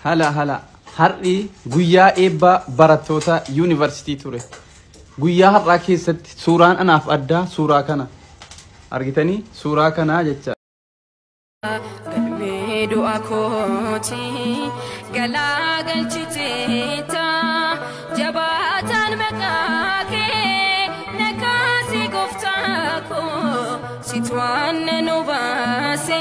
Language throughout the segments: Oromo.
Hala hala har'i guyyaa eebbaa barattoota yuunivarsiitii ture. Guyyaa har'aa keessatti suuraan anaaf addaa suuraa kana. Argitanii suuraa kanaa jecha. Galmee du'a kooti galaa galchiteetta jabaataan maqaa kee nakaasi gooftaa koo situ aannan obaase.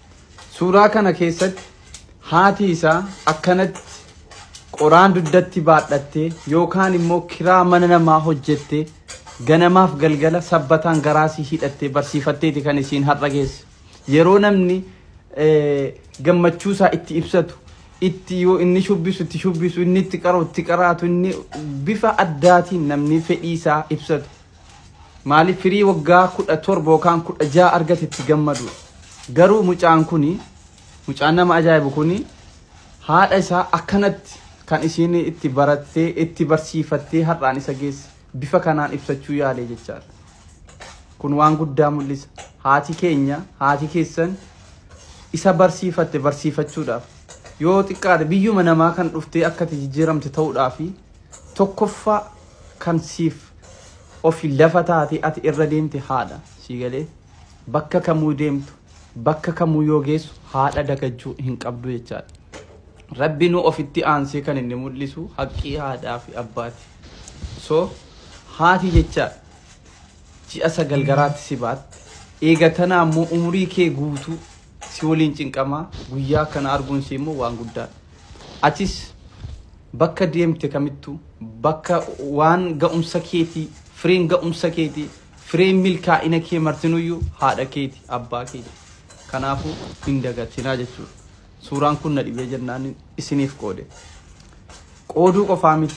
Suuraa kana keessatti haati isaa akkanatti qoraan dugdatti baadhattee yookaan immoo kiraa mana namaa hojjettee ganamaaf galgala sabbataan garaasii hidhattee barsiifatteeti kan isiin har'a geesse. Yeroo namni gammachuusaa itti ibsatu itti yoo inni shubbisu itti shubbisu inni itti qara'u itti qaraatu inni bifa addaatiin namni fedhii isaa ibsatu Maaliif firii waggaa kudha torba yookaan kudha ja'a argate itti gammadu. Garuu mucaan kuni mucaan nama ajaa'ibu kuni haadha isaa akkanatti kan isiin itti barattee itti barsiifattee har'aan isa geesse bifa kanaan ibsachuu yaalee jechaadha. Kun waan guddaa mul'isa. Haati keenya haati keessan isa barsiifatte barsiifachuudhaaf yoo xiqqaate biyyuma namaa kan dhuftee akkati jijjiiramte ta'uudhaafi Tokkoffaa kan siif ofi lafa taatee ati irra deemte haadha. Sii galee? Bakka kamuu deemtu, bakka kamuu yoo geessu haadha dagachuu hin qabdu jechaadha. Rabbinuu ofitti aansee kan inni mul'isu haqqii haadhaa fi abbaati. So haati jechaadha. Ji'a sagal garaatti si baatte. Eega tanaa immoo umurii kee guutuu si waliin cinqamaa guyyaa akkana arguun si immoo waan guddaadha. Atis bakka deemte kamittu bakka waan ga'umsa keeti fireen ga'umsa keeti fireen milkaa'ina kee martinuyyu haadha keeti abbaa keeti kanaafu hin dagatinaa jechuudha suuraan kun na dhibee jennaan isiniif qoode qooduu qofaa miti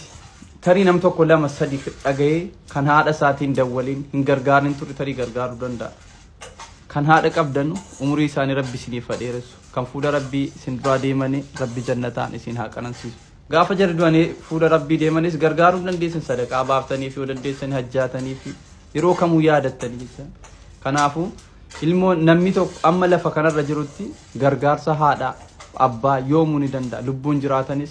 tarii nam tokko lama sadi dhaga'ee kan haadha isaatiin dawwaliin hin gargaarin turre tarii gargaaruu danda'a Kan haadha qabdanu umurii isaanii rabbi isiniif ha dheeressu. Kan fuula rabbii isin duraa deemani rabbi jannataan isiin haa qanansiisu. Gaafa jarri du'anii fuula rabbii deemanis gargaaruu hin dandeessan sadaqaa baaftaniif yoo dandeessani hajjaataniif yeroo kamuu yaadattani jecha. Kanaafu ilmoo namni tokko amma lafa kanarra jirutti gargaarsa haadha abbaa yoomuu ni danda'a lubbuun jiraatanis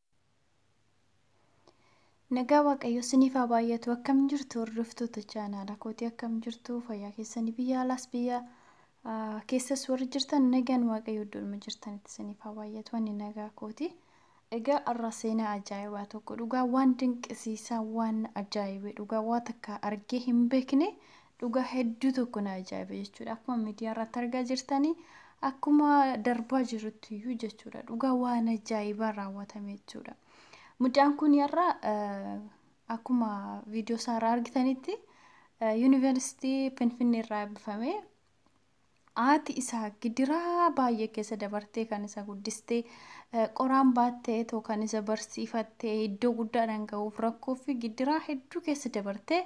Nagaa Waaqayyo siniif haa baay'atu akkam jirtu hordoftoota chaanaala kootii akkam jirtu fayyaa keessanii biyya alaas biyya ah, keessas warri jirtan nagaan Waaqayyo iddoodhuma jirtanitti siniif haa baay'atu ani nagaa kooti. Egaa har'a seenaa ajaa'ibaa tokko dhugaa waan dinqisiisaa waan ajaa'ibee dhugaa waa takka argee hin beekne Dhugaa hedduu tokko na ajaa'ibe jechuudha. Akkuma miidiyaa irratti argaa jirtanii akkuma darbaa jirutti iyyuu jechuudha. Dhugaa waan ajaa'ibaa raawwatame jechuudha. Mucaan kun har'a akkuma viidiyoo isaa irraa argitanitti yuunivarsiitii Finfinnee irraa eebbifame. Haati isaa gidiraa baay'ee keessa dabartee kan isa guddiste, qoraan baattee too kan isa barsiifatte, iddoo guddaadhaan ga'uuf rakkoo fi gidiraa hedduu keessa dabartee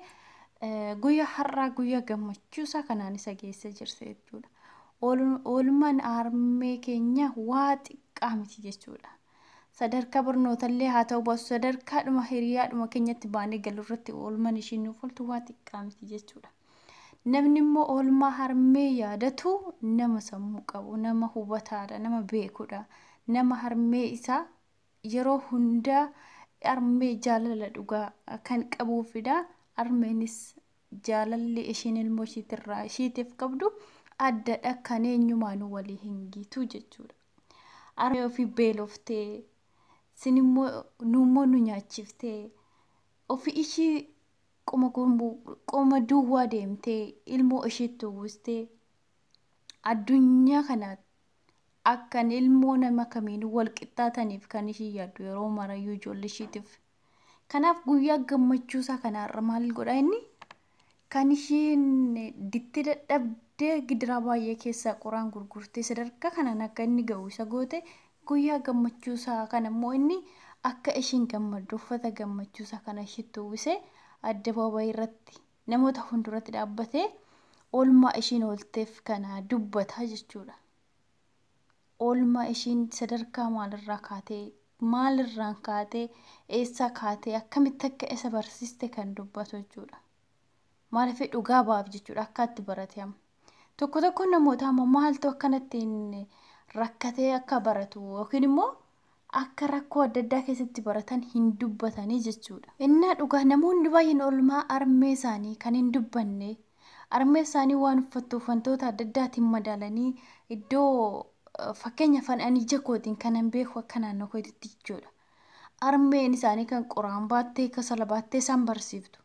guyyaa har'aa guyyaa gammachuu isaa kanaan isa geessee jirti jechuudha. Oolmaan harmee keenya waa xiqqaa miti jechuudha. Sadarkaa barnootallee haa ta'u baasu sadarkaadhuma hiriyaadhuma keenyatti baanee galu irratti oolmaan ishii nuuf ooltu waa xiqqaa miti jechuudha. Namni immoo oolmaa harmee yaadatu nama sammuu qabu, nama hubataadha, nama beekudha. Nama harmee isaa yeroo hundaa harmee jaalala dhugaa kan qabuufidha. Harmeenis jaalalli ishiin ilmoo ishiitirraa ishiitiif qabdu addadha kan eenyumaanuu walii hin gitu jechuudha. Harmee ofii beeloftee sinimmoo nuummoo nu nyaachiftee ofii ishii qoma gurmuu qoma duwwaa deemtee ilmoo ishiitti uwwistee addunyaa kana akkan ilmoo nama kamiinuu wal qixxaataniif kan ishii yaaddu yeroo marayyuu ijoollee ishiitiif. Kanaaf guyyaa gammachuu isaa kanaarra maal godha inni? Kan ishiin dittee dadhabdee gidiraa baay'ee keessaa qoraan gurgurtee sadarkaa kanaan akka inni ga'u isa goote Guyyaa gammachuusaa kanammoo inni akka ishiin gammaddu uffata gammachuusaa kana ishiitti uwwisee addabaabayiirratti namoota hunduratti dhaabbatee oolmaa ishiin oolteef kana dubbata jechuudha. Oolmaa ishiin sadarkaa maalirraa kaatee, maalirraan kaatee, eessaa kaatee, akkamitti akka isa barsiiste kan dubbatu jechuudha. Maaliif dhugaa ba'aaf jechuudha akka itti barate amma. Tokko tokkoon namootaa immoo maaltu akkanattiin rakkatee akka baratu yookiin immoo akka rakkoo adda addaa keessatti baratan hin dubbatanii jechuudha. Innaa dhugaa namoonni baay'een oolmaa armee isaanii kan hin dubbanne armee isaanii waan uffattuuf wantoota adda addaatiin madaalanii iddoo fakkeenya afaan ani ija kootiin kanan beeku akka naannoo kootitti jechuudha. Armeen isaanii kan qoraan baattee kasala baattee isaan barsiiftu.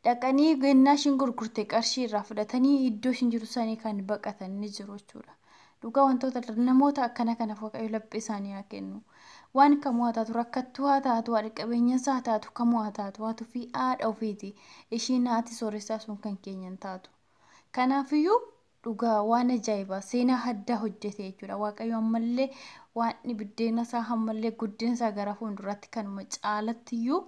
dhaqanii gennaa ishiin gurgurte qarshii irraa fudhatanii iddoo ishiin jiru sanii kan baqatan ni jiru jechuudha. Dhugaa wantoota namoota akkana kanaaf waaqayyo laphee isaanii haa kennu. Waan kamuu haa taatu rakkattuu haa taatu haadha qabeenyinsaa haa taatu kamuu haa taatu haatu fi haadha ofiiti ishiin haati sooressaa sun kan keenya hin taatu. Kanaafiyyuu Dhugaa waan ajaa'ibaa seenaa haddaa hojjete jechuudha. Waaqayyo ammallee waan biddeena isaa hammallee guddina isaa gara fuulduraatti kanuma caalatti iyyuu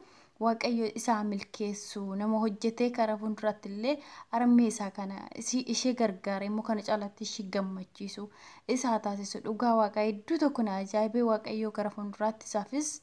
waaqayyo isaa milkeessu nama hojjetee gara fuulduraatti illee armee isaa kana isii ishee gargaaree immoo kana caalatti ishii gammachiisu isaa taasisu dhugaa waaqayyo hedduu tokko na ajaa'ibee waaqayyo gara fuulduraatti isaafis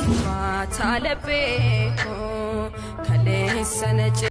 Ulfaataa laphee koo kaleessa na cina.